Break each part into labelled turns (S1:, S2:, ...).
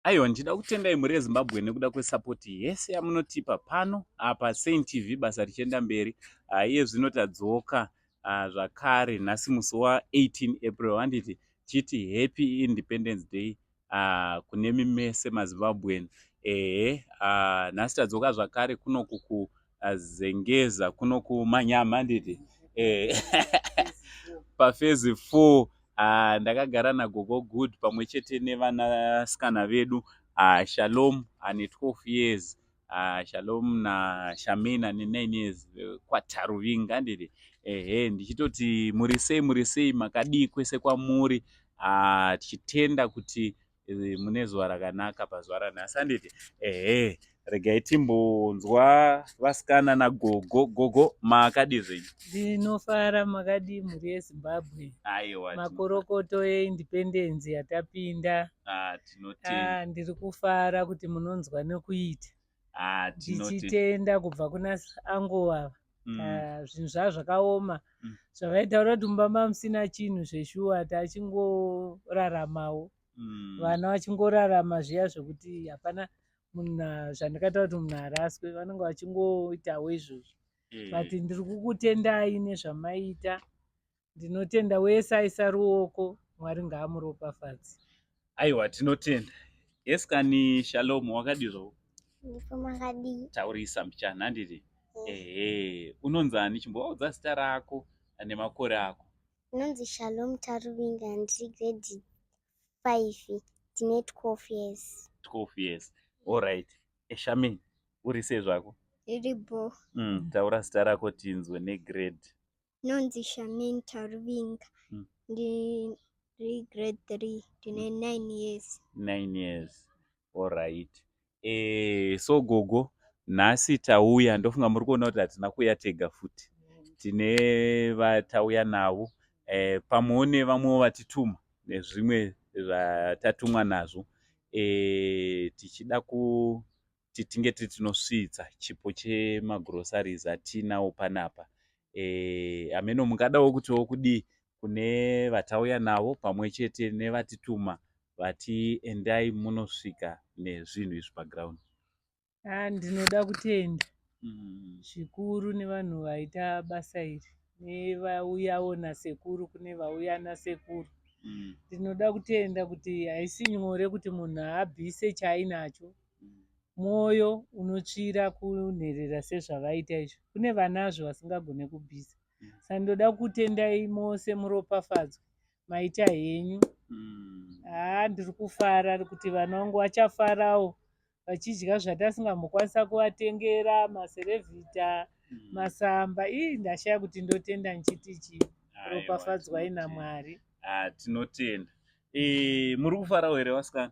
S1: Aiwa ndichida kutendai mhuri yeZimbabwe nekuda kwesapoti yese yamunotipa pano apa Saint TV basa richienda mberi ah, iye zvino tadzoka ah, zvakare nhasi musi wa18 April handiti chiti happy independence day ah, kune mimese mazimbabwean ehe nhasi tadzoka zvakare kunoku azengeza kuno kumanyama handiti eh, pafezi four ah, ndakagara nagogo good pamwe chete nevanasikana vedu ah, shalom ane 12 years ah, shalom nashamina ane 9 years eh, kwataruvinga handiti ehe ndichitoti muri sei muri sei makadii kwese kwamuri ah, tichitenda kuti eh, mune zuva rakanaka pazuva ranhasi anditi ehe regai timbonzwa vasikana nagogo gogo makadii zvenyu ndinofara
S2: makadii mhuri yezimbabwe aiwa
S1: makorokoto
S2: yeindipendenzi yatapinda ah, ah,
S1: ndiri kufara
S2: kuti munonzwa nekuita ah, tichitenda kubva kuna angu ava mm. ah, zvinhu zvaa zvakaoma mm. zvavaitaura kuti mumba mamusina chinhu zveshuwa tachingoraramawo mm. vana vachingorarama zviya zvekuti hapana munhu zvandikaita kuti munhu araswe vanenge vachingoitawo izvozvo eh. but ndiri kukutendai nezvamaita Ndinotenda wese aisa ruoko Mwari ngaamuropafadze. Aiwa
S1: tinotenda. Yes kani Shalom wakadii zvo? Ndipomakadii.
S3: Taurisa mbichana
S1: handiti? Yes. Ehe, unonzi ani chimbovaudza zita rako nemakore ako. Ndinonzi Shalom
S3: Taruvinga ndiri grade 5 ndine 12 years. 12 years.
S1: All right. Eshami uri sei zvako? Iri bo.
S3: Mm, taura zita
S1: rako tinzwe negrade. ndinonzi
S3: shamin taruvinga mm. ndiri grade three ndine mm. nine years nine years
S1: allright e, eh, so gogo nhasi tauya ndofunga muri kuona kuti hatina kuuya tega futi tine vatauya navo e, eh, pamwewo nevamwewo vatituma nezvimwe zvatatumwa nazvo e, tichida ku kuti tinge tiri tinosvitsa chipo chemagroceries atinawo panapa eh, hameno e, mungadawo kutiwo kudii kune vatauya navo pamwe chete nevatituma vati endai munosvika nezvinhu izvi paground ah,
S2: ndinoda kutenda mm. zvikuru mm. nevanhu vaita basa iri nevauyawo nasekuru kune vauya nasekuru mm. ndinoda mm. kutenda kuti haisi nyore kuti munhu abvise chainacho mwoyo unotsvira kunherera sezvavaita izvo kune vanazvo vasingagone kubvisa sa ndoda kutendai mose muropafadzwe maita henyu haa ndiri kufara kuti vana vangu vachafarawo vachidya zvatasingambokwanisa kuvatengera maserevhita masamba ii ndashaya kuti ndotenda ndichiti chii ropafadzwai namwari Ah, tinotenda
S1: Eh, muri kufarawo here vasikana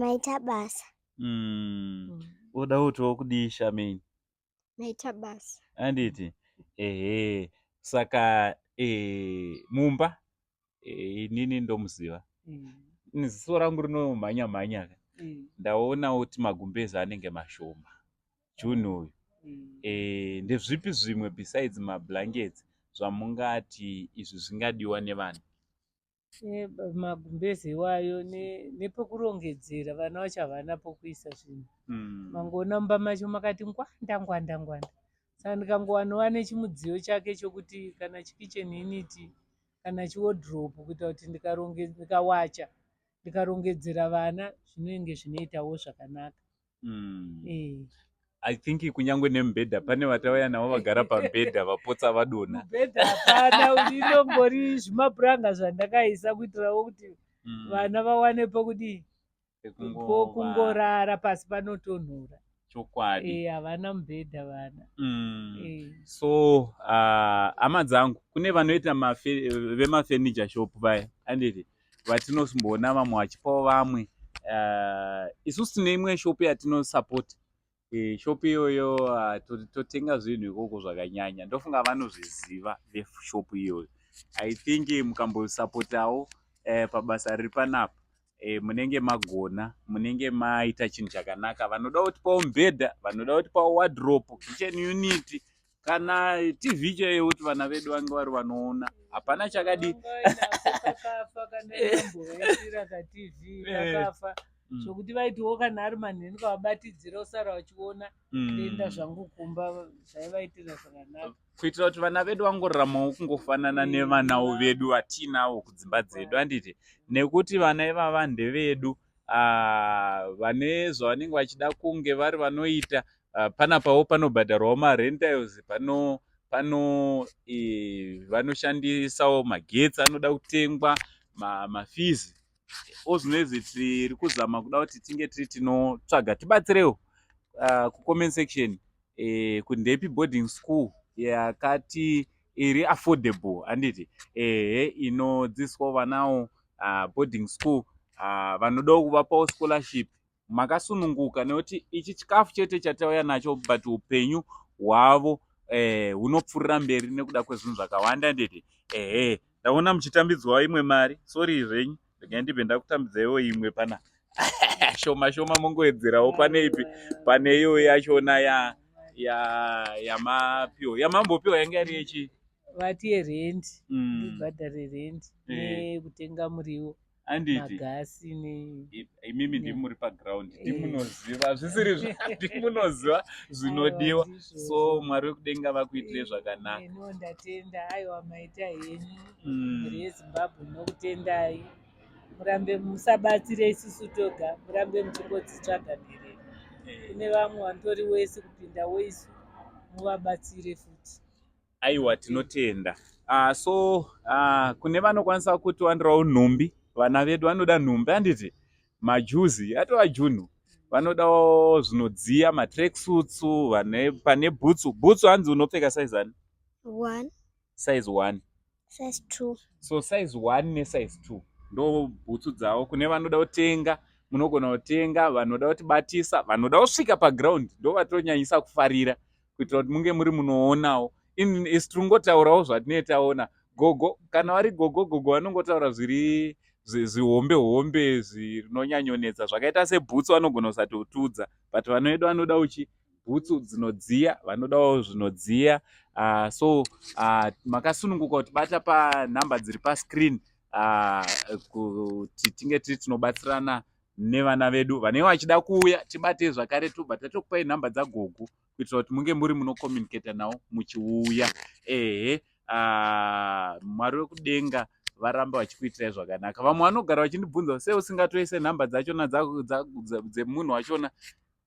S3: maita basa mm. mm.
S1: oda kuti okudii shameni maita
S3: basa anditi
S1: ehe saka e, mumba e, inini ndomuziva mm. ziso rangu rinomhanya mhanya ka mm. ndaona kuti magumbezi anenge mashoma june uyu mm. e, ndezvipi zvimwe besides mablankets zvamungati izvi zvingadiwa nevanhu magumbeze
S2: iwayo nepokurongedzera vana vacho havana pokuisa zvinhu mm. mangoona mumba macho makati ngwanda ngwanda ngwanda saka ndikangowanowa nechimudziyo chake chokuti kana chikitchen initi kana chiwodrop kuita kuti ndikawacha ndikarongedzera vana zvinenge zvinoitawo zvakanaka mm.
S1: eh. I think kunyangwe nemubhedha pane vatauya navo vagara pamubhedha vapotsa vadona mubhedha hapana
S2: inombori zvimapuranga zvandakaisa kuitirawo kuti mm. vana vawane pokudii pokungorara pasi panotonhora chokwadi eh,
S1: havana e, mubhedha
S2: vana mm. e. so
S1: uh, hama dzangu kune vanoita vemafurniture shop vaya anditi vatinosmboona vamwe vachipawo vamwe uh, isusu tine imwe shopi yatinosapota eh, shopi iyoyo uh, totenga zvinhu ikoko zvakanyanya ndofunga vanozviziva veshopi iyoyo i think mukambosapotawo uh, eh, pabasa riri panapa e, munenge magona munenge maita chinhu chakanaka vanoda kuti pawo mubhedha vanoda kuti pawo wadrop kitchen unit kana tv chaiyo kuti vana vedu vange vari vanoona hapana chakadi
S2: zvokuti mm. vaitiwo kana ari manheni kavabatidzira usara vachiona mm. kuenda zvangu kumba zvaivaitira zvakanaka kuitira kuti vana vedu
S1: vangoraramawo kungofanana mm. nevanawo vedu vatiinawo kudzimba dzedu handiti nekuti vana ivava ndevedu uh, vane zvavanenge vachida kunge vari vanoita uh, ah, panapawo panobhadharwawo marentals pano pano e, vanoshandisawo magetsi anoda kutengwa mafizi ma ozvinoizvi tiri kuzama kuda kuti tinge tiri tinotsvaga tibatsirewo uh, kucomment section eh, kundepi boarding school yakati iri affordable handiti ehe inodzidziswa vanawo uh, ah, boarding school uh, vanodawo kuvapawo scholarship makasununguka nekuti ichi chikafu chete chatauya nacho but upenyu hwavo eh, hunopfuurira eh, mberi nekuda kwezvinhu zvakawanda nditi ehe ndaona muchitambidzwawo imwe mari sori zvenyu Regai ndibve ndakutambidzaiwo imwe pana shoma shoma mongoedzerawo pane ipi pane iyo yachona ya ya yamapiwa yamambopiwa yanga yari yechi vati yerendi
S2: mm. ibhadhare rendi eh. nekutenga muriwo anditi magasi ne
S1: imimi ndimi muri paground eh. ndimunoziva zvisiri ndimunoziva zvinodiwa so mwari wekudenga vakuitire eh, zvakanaka ndatenda
S2: aiwa maita henyu mm. mhuri yezimbabwe ndinokutendai murambe musabatsire isusu toga murambe muchingodzitsvaga mhere eh. kune vamwe vantori wese kupinda weisu muvabatsire futi aiwa
S1: tinotenda uh, so uh, kune vanokwanisa kutiwanirawo nhumbi vana vedu vanoda nhumbi handiti majuzi atova junhu vanodawo zvinodziya matreksutsu pane bhutsu bhutsu hanzi unopfeka saizani one
S3: size
S1: one size two
S3: so size one
S1: nesize two ndo bhutsu dzavo kune vanoda kutenga munogona kutenga vanoda kuti batisa vanoda kusvika paground ndo vatonyanyisa kufarira kuitira kuti munge muri munoonawo isu tinongotaurawo zvatinee taona gogo kana vari gogo gogo vanongotaura zviri zvihombe hombe zvinonyanyonetsa zvakaita sebhutsu vanogona kusatotudza but vanoedu vanoda uchi bhutsu dzinodziya vanodawo zvinodziya uh, so uh, makasununguka kuti bata panhamba dziri pascreen uh, kuti tinge tiri tinobatsirana nevana vedu vanenge vachida kuuya tibate zvakare tobva tatokupai nhamba dzagogo kuitira kuti munge muri munokomunicata nawo muchiuya ehe uh, mwari wekudenga varambe vachikuitirai zvakanaka vamwe vanogara vachindibvunza se usingatoise nhamba dzachona dzemunhu wachona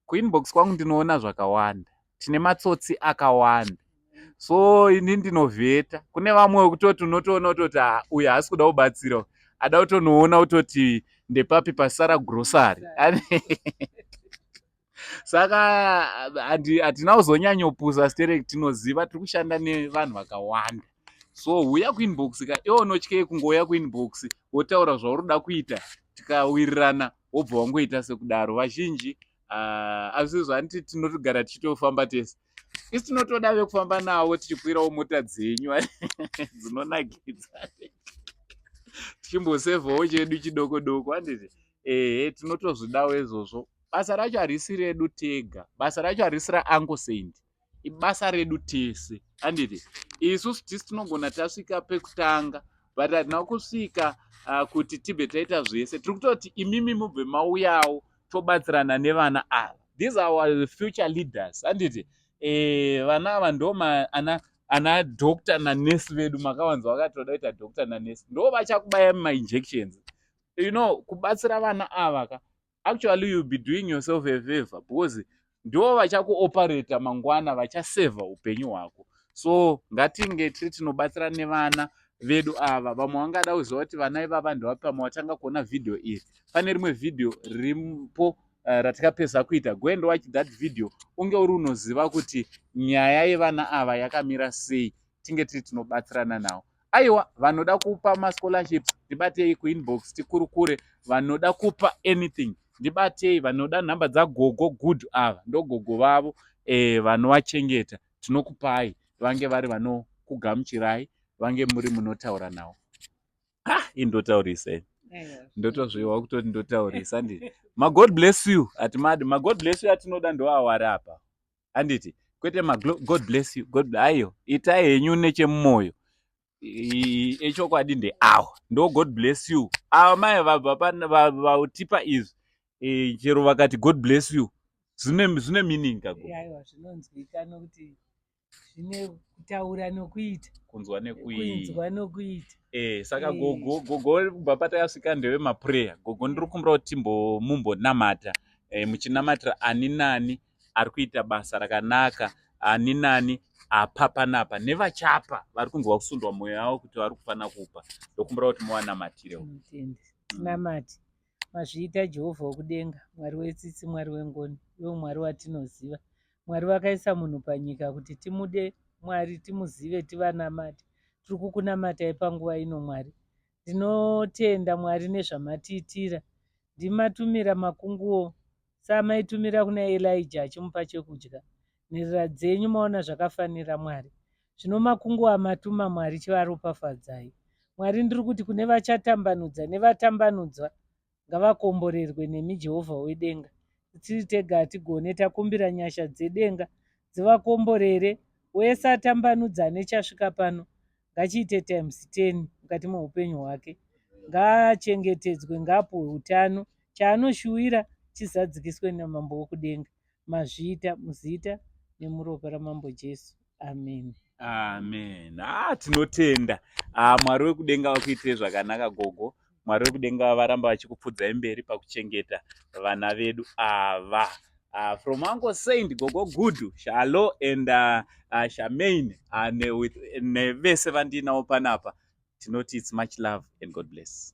S1: Kuinbox kwangu ndinoona zvakawanda. Tine matsotsi akawanda. So ini ndinovheta. Kune vamwe wekutoti unotoona utoti ah, uyu haasi kuda kubatsira. Ada utonoona utoti ndepapi pasara grocery. Saka hatina kuzonyanyopusa sterek tinoziva tiri kushanda nevanhu vakawanda. So huya kuinbox ka iwe unotyei kungouya kuinbox wotaura zvauri kuda kuita tikawirirana wobva wangoita sekudaro vazhinji uh, azvizvo hanti tinotogara tichitofamba tese isi tinotoda vekufamba navo tichikwirawo mota dzenyu dzinonakidza tichimbosevawo chedu chidoko doko handiti ehe tinotozvidawo izvozvo basa racho harisi redu tega basa racho harisi raango saint ibasa redu tese anditi isu tisi tinogona tasvika pekutanga but hatina kusvika uh, kuti tibve taita zvese tiri kutoti imimi mubve mauyawo tobatsirana nevana ava these are our future leaders anditi eh, vana ava ndoma ana ana doctor nanurse vedu makawanza vakatoda kuita doctor nanurse ndo vachakubaya mainjections you know kubatsira vana ava ka actually you'll be doing yourself a favor because ndo vachakuoperata mangwana vachasevha upenyu hwako so ngatinge tiri tinobatsira nevana vedu ava vamwe vangada kuziva kuti vana ivava ndevapa vamwe vatanga kuona vhidhiyo iri pane rimwe vhidhiyo riripo uh, eh, ratikapedza kuita go and watch that video unge uri unoziva kuti nyaya yevana ava yakamira sei tinge tiri tinobatsirana nawo aiwa vanoda kupa mascholarships ndibatei kuinbox tikurukure vanoda kupa anything ndibatei vanoda nhamba dzagogo good ava ndogogo vavo e, vanovachengeta tinokupai vange vari vanokugamuchirai vange muri munotaura nawo ha indotaurisei ndotozviwa kutoti ndotaurisa ndi magod bless you hatimadi magod bless you atinoda ndoawari apa handiti kwete magod bless you god ayo itai henyu nechemumoyo echokwadi ndeawo ndo god bless you ava mai vatipa izvi e, chero vakati god bless you zvine meaning kagoaiwa zvinonzwika
S2: nokuti zvine kutaura nokuita kunzwa nekuiinzwa nokuita e, saka eh. gogo
S1: gogo kubva patayasvika ndeve maprayer gogo ndiri kumbira kuti timbomumbonamata e, muchinamatira ani nani ari kuita basa rakanaka ani nani apa panapa nevachapa vari kunzwa kusundwa mwoyo yavo kuti vari kufanira kupa ndokumbira kuti muwanamatirewo tinamati
S2: mazviita jehovha wokudenga mwari wetsitsi mwari wengoni iwo mwari watinoziva mwari vakaisa munhu panyika kuti timude mwari timuzive tivanamati tiri kukunamatai panguva ino mwari ndinotenda mwari nezvamatiitira ndimatumira makunguwo Saamaitumira kuna Elijah achimupa chekudya, nherera dzenyu maona zvakafanira Mwari. Zvino makungu amatuma Mwari chivaropafadzai. Mwari ndiri kuti kune vachatambanudza nevatambanudzwa ngavakomborerwe nemi Jehovha wedenga. Tiri tega hatigone takumbira nyasha dzedenga dzivakomborere wese atambanudza nechasvika pano ngachiite times ten mukati meupenyu hwake ngaachengetedzwe ngaapuhwe utano chaanoshuwira chizadzikiswe namambo wekudenga mazviita muzita nemuropa ramambo jesu amen amen
S1: ah, tinotenda ah, mwari wekudenga vakuitire zvakanaka gogo Mwari wekudenga varamba vachikupfudzai mberi pakuchengeta vana vedu ava. Ah, uh, from Uncle Saint Gogo Gudu Shalo and uh, uh, Shamaine uh, ne, with, ne vese vandinawo panapa tinoti it's much love and God bless.